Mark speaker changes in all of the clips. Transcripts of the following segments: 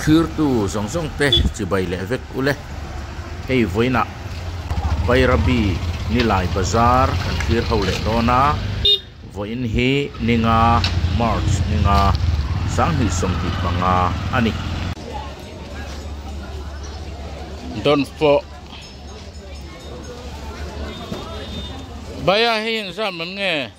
Speaker 1: Thlirtu zawng zawng te chibai leh vek ule. Hei vawiinah Bairabi Nilai Bazar kan thlir ho leh dawn a. Vawiin hi Ninga, March Ninga, Sanghnih Sawmhnih panga a ni. Dawnfawh Baia hei inzam em nge?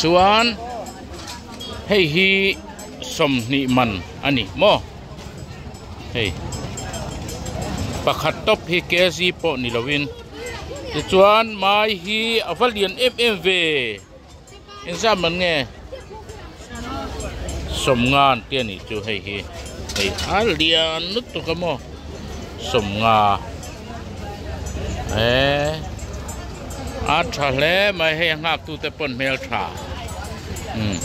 Speaker 1: Chuan hei hi sawmhnih man a ni maw? Hei pakhat tawp hi KZ pawh ni loin. Tichuan mai hi a va lian em em ve. Engzam man nge? sawmnga an tia nih chu hei hi hei a lian lutuk a maw sawmnga e a tha hle mai hei a nghak tu te pawn hmel tha umm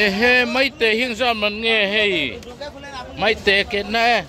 Speaker 1: ehe maitei hing zam an nge hei maitei a ketna e.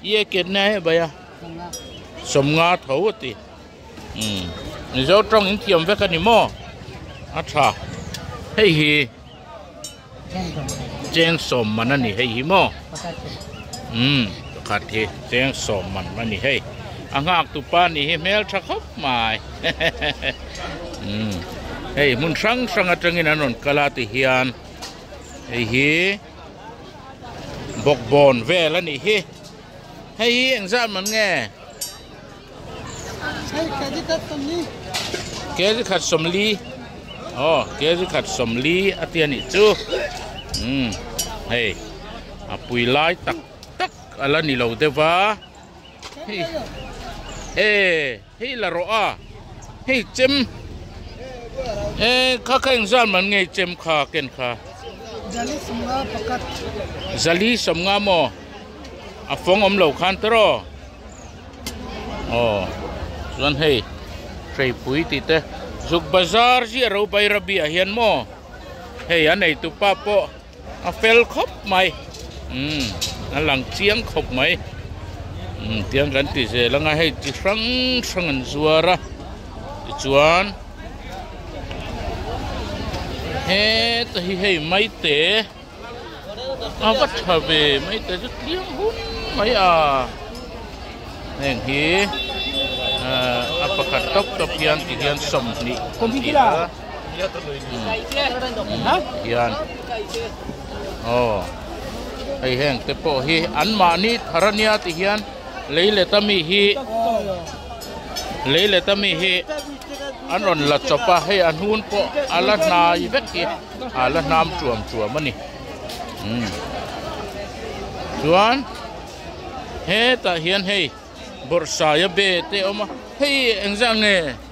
Speaker 1: I eket nia heh baia sawm nga tho a ti. Umm Mizo tawng in thiam vek a ni maw? A tha. Hei hi cheng sawm man a ni hei hi maw? Umm pakhat hi cheng sawm man a ni hei. A nghaktu pa nih hi hmeltha khawp mai hehehehe umm hei hmun hrang hrang atangin an rawn kal a tihian hei hi. bawkbawn vel a nih hi hei hi eng zat man nge kezi khat sawmli aw kezi khat sawmli a tia nih chu um hei a pui lai tak tak a la ni lo deuh va hei e Hei la rawh a, hei chem e kha kha engzan man ngei chem kha ken kha. Zali sawmnga pakhat. Zali sawmnga maw? A fawng awm lo khan tawrh aw. Aw, chuan hei hreipui tih te, Zuk bazar zia ro Bairabia hian maw? Hei a neitu pa pawh. A fel khawp mai. Umm a lang chiang khawp mai. Umm tiang kan ti zel anga hei chi hrang hrang an zuar a. Tichuan heta hi hei maite a va tha ve maite chu tling hum mai a. Heng hi ahh a pakhat tawp tawp hian tihian sawmhnih a ni a. hian aw hei heng te pawh hi an mahni thar a nia ti hian lei let ami hi lei let ami hi an rawn la chawp a hei an hun pawh a la hnai vek hi a la hnam tuam tuam a ni umm chuan hetah hian hei bawrhsai a bet te a awm a hei engzah nge.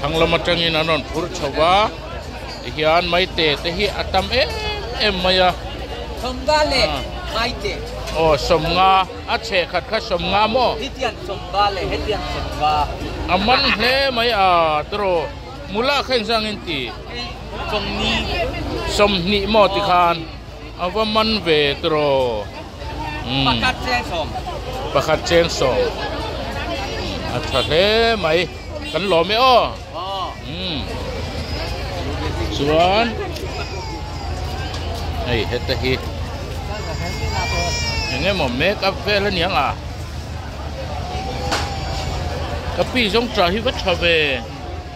Speaker 1: Thanglam atangin an rawn phur chho va, tihian Maite te hi a tam em em mai a. Sawmnga leh
Speaker 2: Maite. Aw, Sawmnga,
Speaker 1: a chheh khat kha Sawmnga maw? Hetian Sawmnga leh
Speaker 2: hetian Sawmnga. A man hle
Speaker 1: mai a, tiraw? Mula kha engzangin ti? Sawmni. Sawmhnih maw ti khan. A va man ve tro umm. Pakhat cheng sawm. Pakhat cheng sawm. A tha hle mai. Kan lawm e aw. Umm. Chuan hei heta hi eng emaw make up vel a niang a. Ka pi zawngcha hi va tha ve.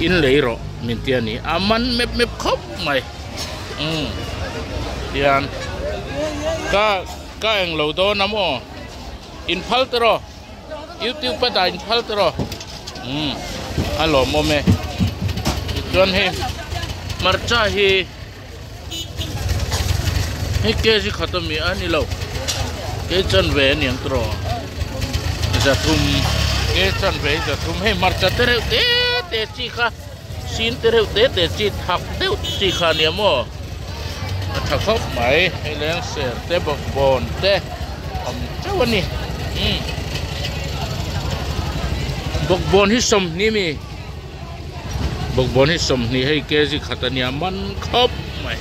Speaker 1: In lei rawh min ti a ni. A man mep mep khawp mai. Umm. Tian. Ka, ka eng lo dawn a maw? In phal ta rawh. YouTube a dah in phal ta rawh. Umm. A lawmawm e. Tichuan hei hmarcha hi. Hei kg khat a mi a ni lo kei chanve a niang tur aw za thum kei chanve za thum hei hmarcha te reuh te te chi kha sin te reuh te te chi thak deuh chi kha ni a maw a tha khawp mai hei leng ser te bawk bon te awm chauh a ni umm bawk bon hi sawm hni mi. Bawkbawn hi sawmhnih hei kg khat a nia man khawp mai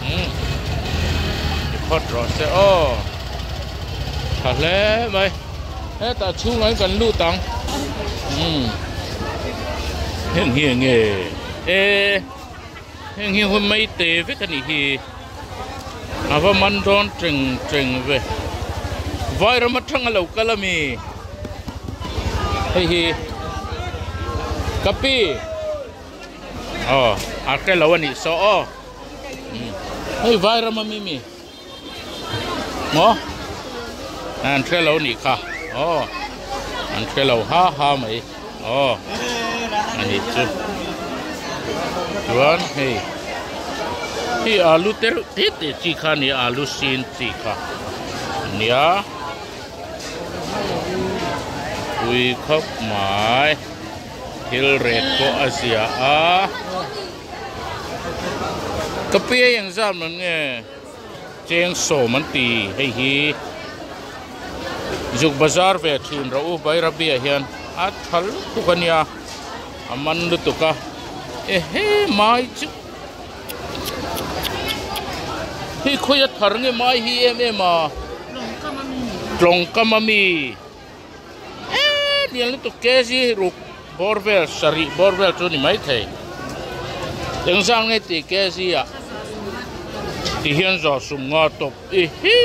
Speaker 1: umm i phawt rawh se aw tha hle mai hetah chhungah hian kan lut ang umm heng hi eng nge e. Heng hi hun mai te vek a nih hi. A va man dawn ṭeng ṭeng ve. Vairam aṭanga lo kal a mi? Hei hi ka pi aw a hre lo a nih saw aw. Hei Vairam ami mi? Maw? An hre lo ni kha. Aw. An hre lo ha ha mai. Aw. A ni chu. Chuan hei. Hi alu ter te te chi kha ni alu sin chi kha. Nia. Pui khawp mai. Thil ret pawh a zia a. Ka pi hei eng zam lo nge cheng sawm an ti hei hi zuk bazar ve a thin ro u Bairabia hian a tha lutuk a nia a man lutuk a ehe mai chu hei khawi a thar nge mai hi em em a tlawngkam ami tlawngkam ami. Eee lian lutuk KG ruk bawr vel sarih bawr vel chu ni mai thei. Eng zang nge tih KG a ti hian zawh sum nga tawp i hi.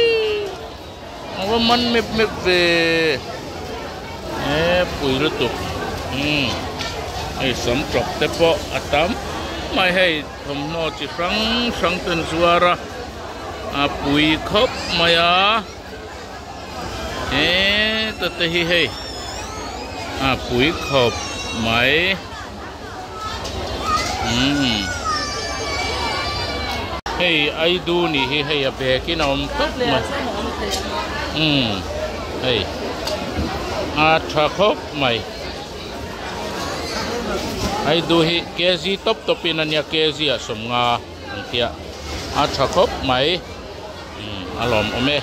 Speaker 1: Ang va man mep mep ve. Eee pui lutuk. Umm hei sam tlawk te pawh a tam mai hei thawmhnaw chi hrang hrang ten zuar a pui khawp mai a. He tute hi hei a pui khawp mai umm hei aidu nih hi hei a bekin a awm tawp mai umm hei a tha khawp mai aidu hi kg tawp tawpin a nia kg ah sawmnga. An tia a tha khawp mai. Umm a lawm awm e.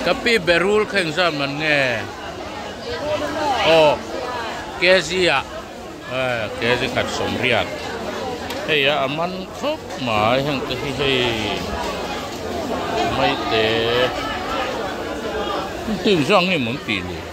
Speaker 1: Ka pi berul kha engzam an nge? Berul emaw? Aw kg a kg khat sawm riat hei a a man khawp mai heng te hi hei maite. Tui zawk ang nge i mun pi le?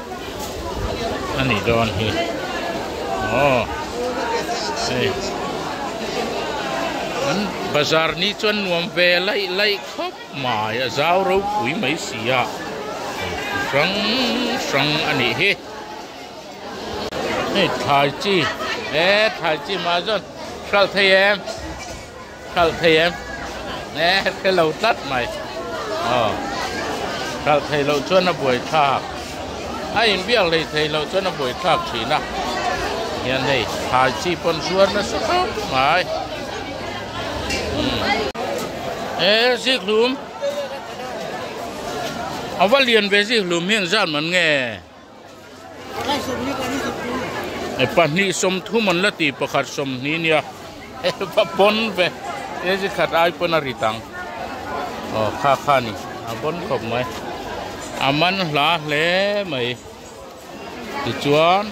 Speaker 1: a nih dawn hi aww hei an bazar ni chuan nuam ve laih laih khawp mai a zau ropui mai si a hei chi hrang hrang a nih hi hei thlai chi e thlai chi mah zâwn Hrialthei em. Hralh phei em? Eeh a phelo tlat mai. Aw. Hralh phei loh chuan a buai thlak. A inbiak lei thei loh chuan a buai thlak thin a. Hian hei, thai chi pawn zuar nasa hlauh mai. Umm. Eeh Zikhlum. A va lian ve Zikhlum hian zan man nge? Pahnih sawmthum an la ti, pakhat sawmhnih nia va pawn ve. Kg khat ai pawn a rit ang. Aw kha kha ni, a vawn khawp mai. A man hla hle mai. Tichuan,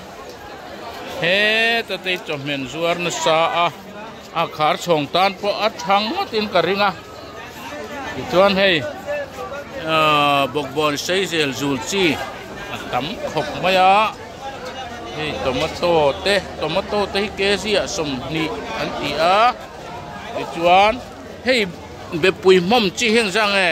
Speaker 1: he Tatei chawhmehn zuar nasa a. A khar chhawng tan pawh a chhang ngawtin ka ring a, tichuan hei bawkbawn seizel zul chi a tam khawp mai a, hei tomato te, tomato te hi kg ah sawmhnih an ti a, tichuan hei bepui hmawm chi hi ang zang e.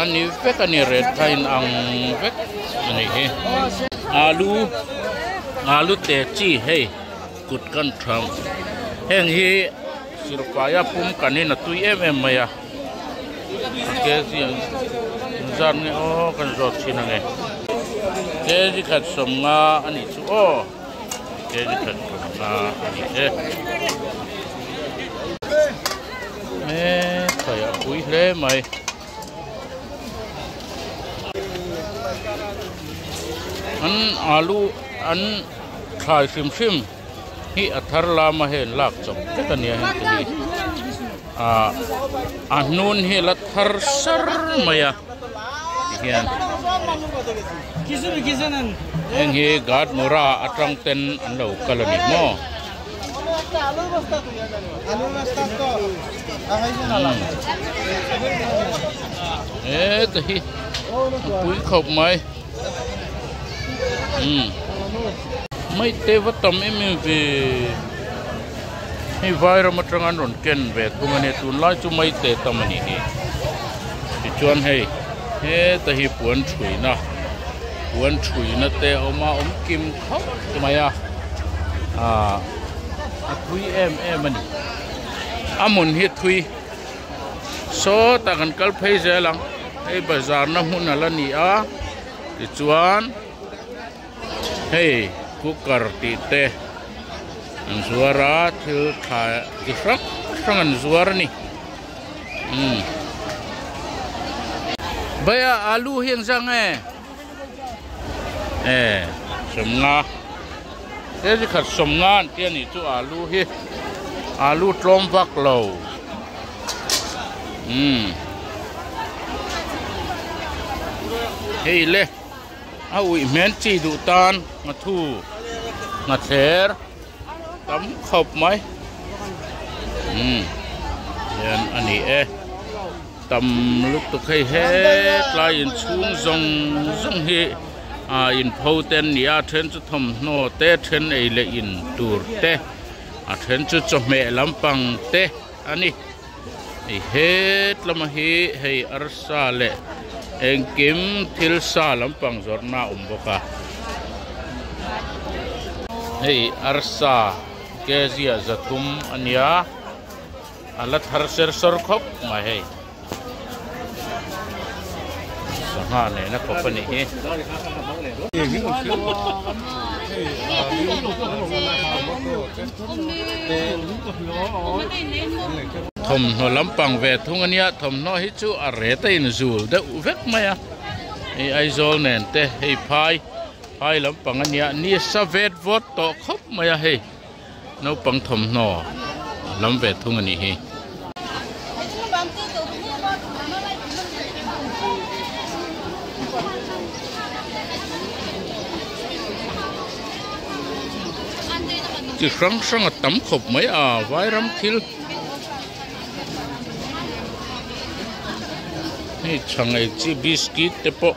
Speaker 1: A ni vek a ni red kha in ang vek a nih hi. Alu alu te chi hei kut kan tham heng hi silfai a pum kan in a tui em em mai a kg ang in zat nge aw kan zawt thin ange kg khat sawm nga a nih chu aw. He hi that thawmna a ni e. E thai a pui hle mai. An alu an thlai hrim hrim hi a thar lama hian lak chawp vek a nia heng te hi. Ahh a hnun hi la thar sar mai a ti hian heng hi guard mura atang ten an lo kal a ni maw eehh ka hi a pui khawp mai. Maitei va tam em em ve. Hei vai ram atanga an rawn ken ve thung a nia. Tunlai chu Maitei tam a nih hi. Tichuan hei heta hi puan thuina, puan thuina te a awm a, awm kim khawp mai a. Ahh a thui em em a ni. A hmun hi thui. sawta kan kal phei zel ang hei bazar na hmun ala ni a tichuan hei cooker tih te an zuar a thil tha chi hrang hrang an zuar a ni umm bhaiya alu hi ang zang e. Eh, sawmnga. He chi khat sawmnga an ti a nih chu alu hi. Alu tlawm vak lo. Umm. Hei le. A uih hmel chi duh tan nga thu, nga thler tam khawp mai. Umm. Hian a ni e. Tam lutuk hei hetlai inchhung zawng zawng hi aa inpho te an ni a, a then chu thawmhnaw te, then ei leh in tur te, a then chu chawhmeh lampang te a ni. Hei hetlama hi hei arsa leh engkim thil sa lampang zawrhna a awm bawk a. Hei arsa Kezia Zathum a nia. A la thar ser sawr khawp mai hei. Sangha nena khawp a nih hi. Thawmhnaw lampang ve thung a nia, thawmhnaw hi chu a ret a inzul deuh vek mai a. Hei Aizawl nen te, hei phai, phai lampang a nia, ni sa vet vawt tawh khawp mai a hei. Naupang thawmhnaw lam ve thung a nih hi. Ti hrang hrang a tam khawp mai a, Vairam thil hei chhangei chi biscuit te pawh.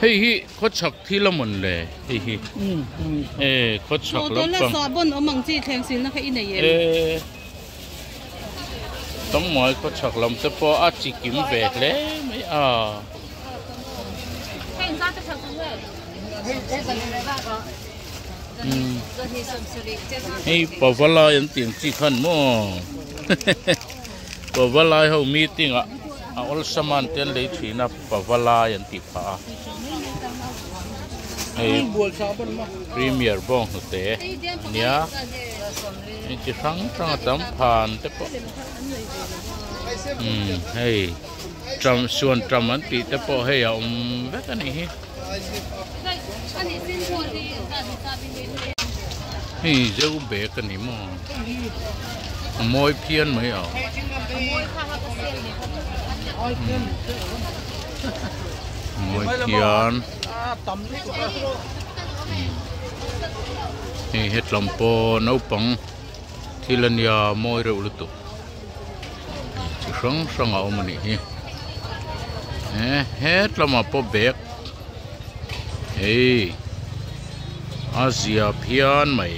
Speaker 1: Hei hi khaw chhak thil a mawn le hei hi. E khaw chhak lampang. Tuna sa bon awm ang chi thleng
Speaker 3: silna kha i nei em. E
Speaker 1: tangmai khaw chhak lam te pawh a chi kim ve hle mai a. Hei zan te chhak thung em. Hei pavalai an tih ang chi khan maw. Pava lai ho meeting ah a awlsam a an tel lei thin a, pava lai an tih phah a. Hei Premier bawng hnute a nia, hei chi hrang hrang a tam phan te pawh umm hei Trump Suan Trump an tih te pawh hei a awm vek a nih hi. Hei zeu bag a ni maw? A mawi phian mai ang. A mawi phian. Hei hetlam pawh naupang. thil a nia mawi reuh lutuk chi hrang hrang a awm a nih hi eh hetlamah pawh bag hei a ziap hian mai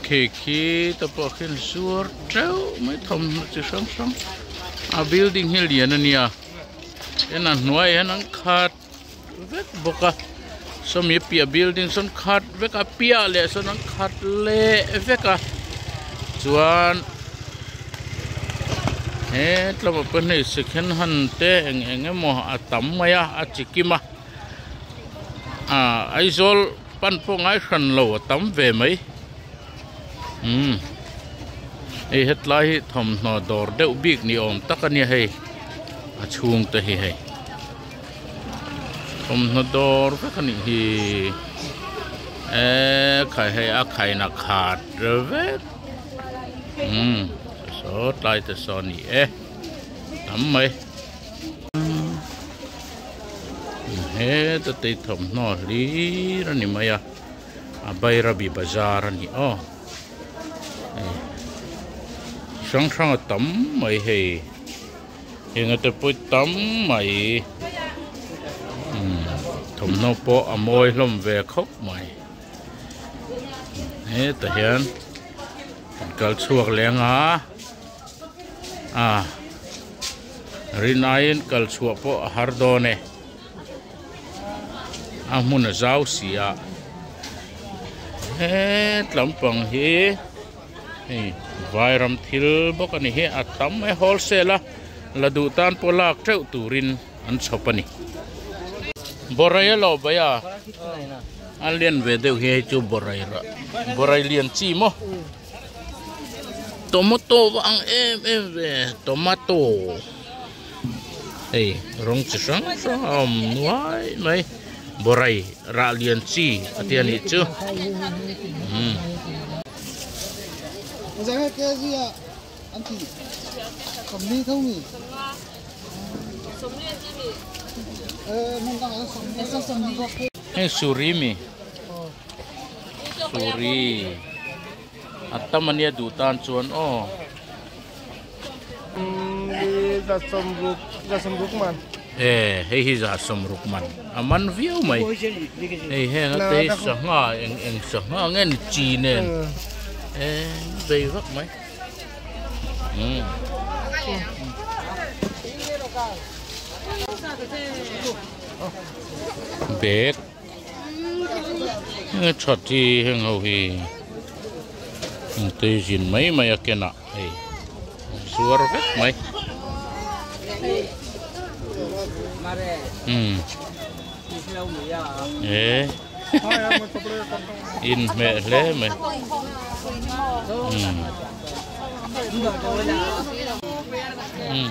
Speaker 1: cake hi te pawh khin zuar teuh mai thawmhnaw chi hrang hrang a building hi lian a nia tin a hnuaiah hian an khat vek bawk a sawmi a piah building sawn khat vek a a piah leh sawn an khat leh vek a chuan he tlema pawnihna second hand te eng eng emaw a tam mai a a chi kim a. Aah Aizawl pan pawh ngai hran lo a tam ve mai umm hei hetlai hi thawmhnaw dawr deuh bik ni awm tak a nia hei a chhung te hi hei thawmhnaw dawr vek a nih hi eee khai hei a khaina khat vek umm saw tlai te saw a ni e a tam mai. heta tei thawmhnaw a hlir a ni mai a a bairabi bazar a ni aw hei chi hrang hrang a tam mai hei heng te pawh hi tam mai umm thawmhnaw pawh a mawi hlawm ve khawp mai hetah hian kan kal chhuak leh anga. a rin aiin kal chhuah pawh a har dawn e a hmun a zau si a hett lam pang hi hei vairam thil bawk a ni hi a tam e whole sale a la duh tan pawh lak teuh turin an chhawp a ni boraia lo baia a lian ve deuh hi hei chu boraira borai lian chi maw. Tomato ang em em ve tomato hei rawng chi hrang hrang a awm nuai mai borai rah lian chi a tia nih chu
Speaker 4: umm
Speaker 1: hei surimi. Suri a tam a nia duh tan chuan aw.
Speaker 4: E hei hi
Speaker 1: za sawmruk man a man viau mai hei heng a te hi sangha eng eng sangha nge ni chi nen eng bei vak mai bag. He that hi heng ho hi engtei zin mai mai a ken ah hei an zuar vek mai umm he in hmeh hle mai umm umm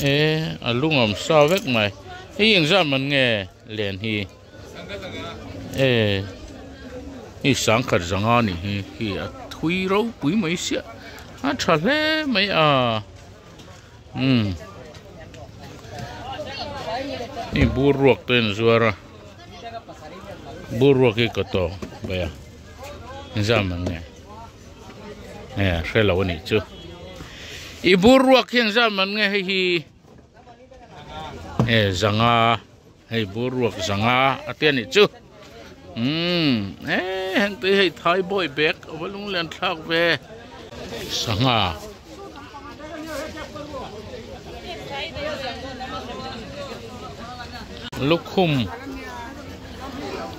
Speaker 1: E a lungawm sa vek mai hei engzah man nge len hi e hei sangkhat zanga ni hi khi a thui ropui mai sia a tha hle mai a umm hei buruak te an zuar a buruak hi ka tawng bawih a engzah man nge. Nge hre lo a nih chu. I bur ruak hian zam an nge hei hi. E zanga hei bur ruak zanga a tia nih chu. Um e heng tui hei thai boy bag a va lung lian thlak ve. Sangha. Lukhum.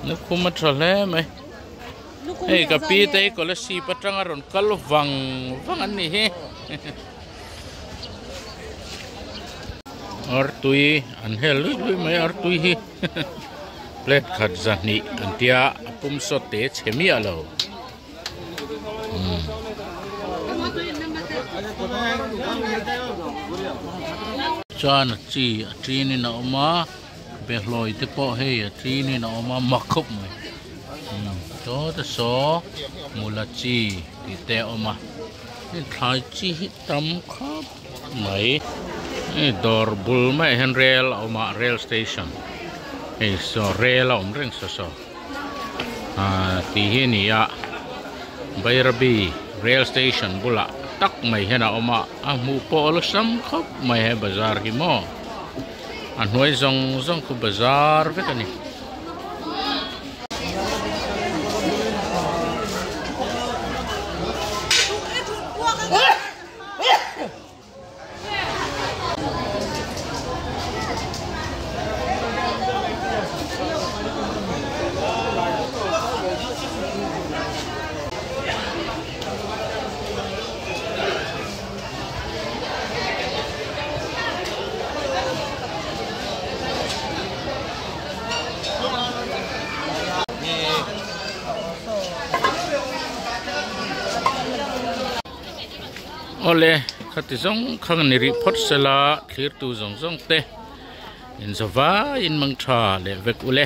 Speaker 1: Lukhum a tha hle mai. Hei ka pi te scholarship atanga rawn kal vang vang an nih hi. Artui an hel lui lui mai artui hi. Plate khat zahnih an tia pum sawt te che miah lo. Chuan chi a ṭin in a awm a. Behlawi te pawh hei a tlinin a awm a mak khawp mai sawta saw mula chi tih te a awm a hei thlai chi hi tam khawp mai hei dawr bul maiah hian rail a awm a rail station hei saw rail a awm reng saw saw ah tih hi a ni a Bairabi rail station bulah tak mai hian a awm a a hmuh pawh a lu sam khawp mai he bazar hi maw. A hnuai zawng zawng khu bazar vek a ni. Awle khati zawng khan i rih phawt sel a, thlirtu zawng zawng te in za vaiin mang tha leh vek u le.